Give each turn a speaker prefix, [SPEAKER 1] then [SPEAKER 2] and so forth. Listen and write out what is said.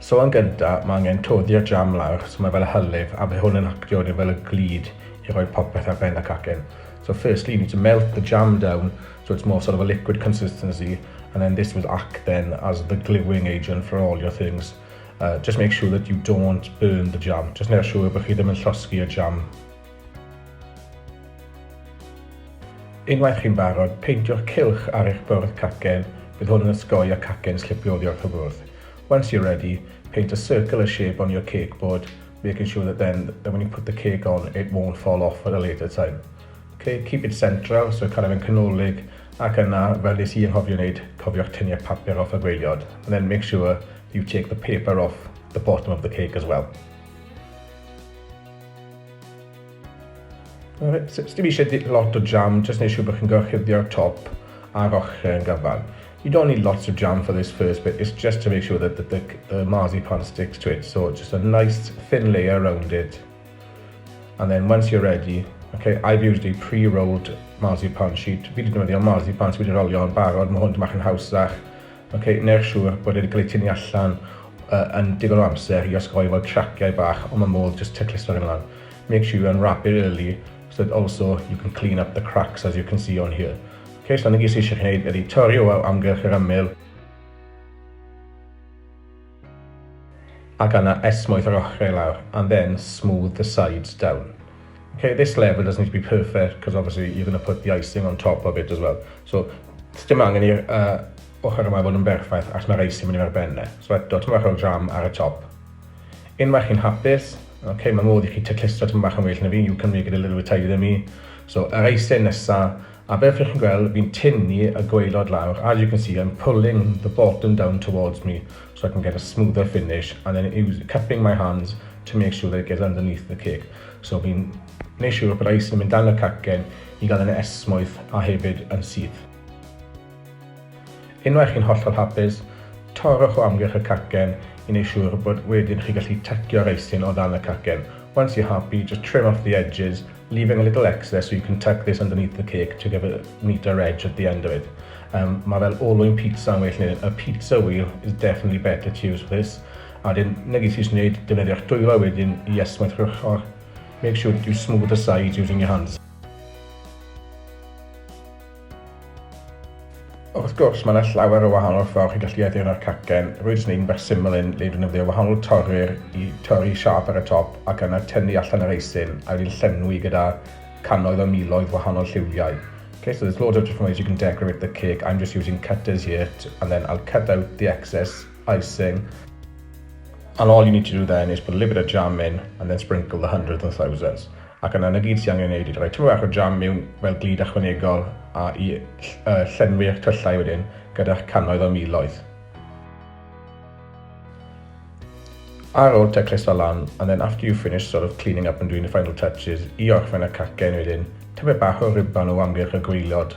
[SPEAKER 1] So yn gynta, ma' angen toddi'r jam lawr, so ma' fel y hylif, a by' hwn yn actio wedyn fel y glud i roi popeth ar ben y cacen. So firstly you need to melt the jam down so it's more sort of a liquid consistency and then this will act then as the gluing agent for all your things. Uh, just make sure that you don't burn the jam, just neu'r siŵr bod chi ddim yn llosgi'r jam. Unwaith chi'n barod, peintiwch cylch ar eich bwrdd cacen, bydd hwn yn osgoi y cacen slipio oddi wrth y bwrdd. Once you're ready, paint a circle a shape on your cake board, making sure that then that when you put the cake on it won't fall off at a later time. Ok, keep it central, so cael e fe'n canolig, ac yna, fel nes i anghofio wneud, cofiwch tynnu'r papur off y gwaelod, and then make sure you take the paper off the bottom of the cake as well. Alright, so dim eisiau lot o jam, just neu siw bod chi'n gorchuddio'r top a'r ochr yn gyfan. You don't need lots of jam for this first bit, it's just to make sure that the, the, the marzipan sticks to it, so just a nice thin layer around it. And then once you're ready, okay, I've used a pre-rolled marzipan sheet, fi wedi defnyddio marzipan sydd wedi rolio yn barod, mae hwn dymach yn hawsach, Ok, neu'r siŵr bod e 'di cael ei tynnu allan yn digon o amser i osgoi fel craciau bach ond mae modd jyst tycluso hyn lan. Make sure you unwrap it early so that also you can clean up the cracks as you can see on here. Ok, so 'na gyd sydd eisiau chi wneud ydy torri o amgylch yr ymyl. Ac yna esmwyth yr ochrau i lawr and then smooth the sides down. Ok, this level doesn't need to be perfect because obviously you're going to put the icing on top of it as well. So, sdim angen i'r uh, ochr yma fod yn berffaith achos mae'r icing mynd i ar benne. So eto, ti'n bach o'r jam ar y top. Unwaith chi'n hapus, ok, mae modd i chi taclistio ti'n bach yn well na fi, you can make it a little bit tighter than me. So, yr icing nesa, A fel chi'n gweld fi'n tynnu y gwaelod lawr, as you can see I'm pulling the bottom down towards me so I can get a smoother finish and then use, cupping my hands to make sure that it gets underneath the cake. So fi'n gwneud siŵr bod ice yn mynd dan y cacen i gael yn esmwyth a hefyd yn syth. Unwaith chi'n hollol hapus, torrwch o amgylch y cacen i neu siwr bod wedyn chi gallu tacio'r eisyn oddan y cacen. Once you're happy, just trim off the edges, leaving a little extra so you can tuck this underneath the cake to give a neater edge at the end of it. Um, mae fel olwyn pizza yn well neu a pizza wheel is definitely better to use for this. A wedyn, na gyd sy'n gwneud, defnyddio'ch dwylo wedyn i ysmwth yr ochr. Make sure you smooth the sides using your hands. Wrth gwrs, mae yna llawer o wahanol ffordd chi'n gallu addurno'r cacen. Rwy'n jyst yn gwneud un bach syml un le dwi'n defnyddio wahanol torri'r i torri siâp ar y top ac yna tynnu allan yr eisyn a wedyn llenwi gyda cannoedd o miloedd wahanol lliwiau. Okay, so there's loads of different ways you can decorate the cake. I'm just using cutters here and then I'll cut out the excess icing. And all you need to do then is put a little bit of jam in and then sprinkle the hundreds and thousands. Ac yna 'na gyd sy angen ei wneud yw rhoi tamaid bach o jam miwn fel glud ychwanegol a i llenwi eich tyllau wedyn gyda'ch cannoedd o miloedd. Ar ôl taclus fo lan and then after you've finished sort of cleaning up and doing the final touches i orffen y cacen wedyn tamaid bach o ruban o amgylch y gwaelod